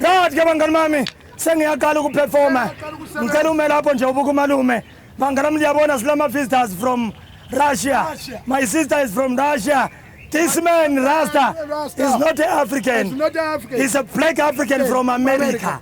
Right ke bangani bami sengiyaqala ukuperforma ngicela ume lapho nje ubuka umalume bangani bami liyabona silama visitors from Russia my sister is from Russia This man, Rasta, is not African. He's a black African from America.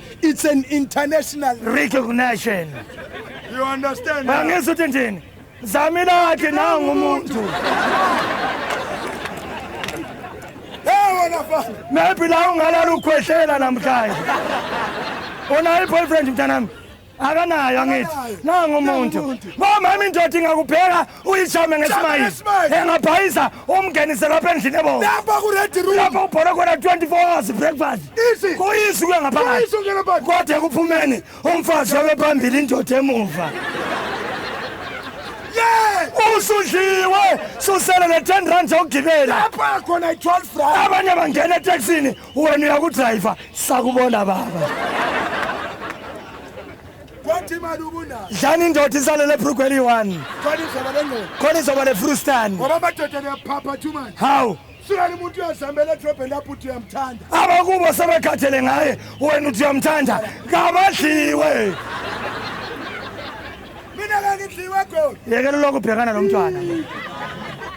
It's an international recognition. You understand? Bangizwa ukuthi njini? Zami lakhe nangu umuntu. Hey wena fana. Maybe la ungalala ukhwehlela namhlanje. Ona i boyfriend mntanami. akanayo angithi nangu umuntu bomama indoda ingakubheka uyishame ngesimayini engabhayisa umngenise lapha endlini ebona lapha ku red room lapha ubhola khona 24 hours breakfast kuyisi kuya ngaphakathi kodwa kuphumeni umfazi wabe phambili indoda emuva usudliwe susele ne-10 rand zokugibela abanye bangena eteksini wena uyakudrayiva sakubona baba kwathi imali ubunayo dlani indoda isalele ebrugweli one khona izoba lengqondo khona izoba lefrustani ngoba amadoda niyaphapha too much hawu sukani umuntu uyazihambela edrobheni lapho uthi uyamthanda abakubo sebekhathele ngaye wena uthi uyamthanda kabadliwe mina kangidliwe goli yekela lokho ubhekana nomntwana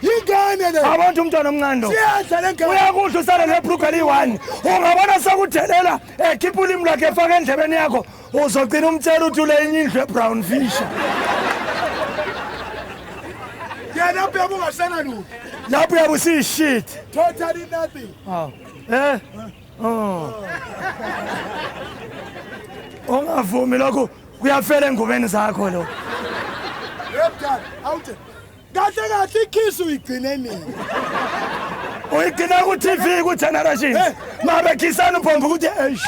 yingane le abantu umntwana omncane siyadla le ngane uyakudla usale nebruga eliyi-one ungabona sekudelela ekhipha ulimi lwakhe efaka endlebeni yakho uzogcina umtshela ukuthi ule enye indlu ebrown fisher yena ubheka ungasena lutho lapho uyabe usiyishit totally nothing eh oh. ungavumi lokhu Kuyafela engubeni zakho lo. Yebdala, awuthe. Kahle kahle ikiss uyigcine nini? Uyigcina ku TV ku Generations. Eh. Mabe kissana uphomba ukuthi eish.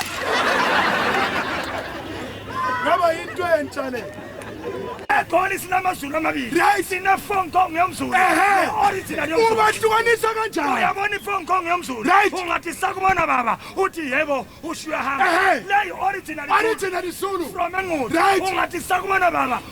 Ngaba into entsha le. egoli sinamazulu amabili right sine-phone kong yomzulu original yomzulu ubahlukanisa kanjani uyabona i-phone kong yomzulu right ungathi sakubona baba uthi yebo Usho uyahamba. Ehe. Nayi original. Original Zulu. From Engqondo. Right. Ungathi sakumana baba.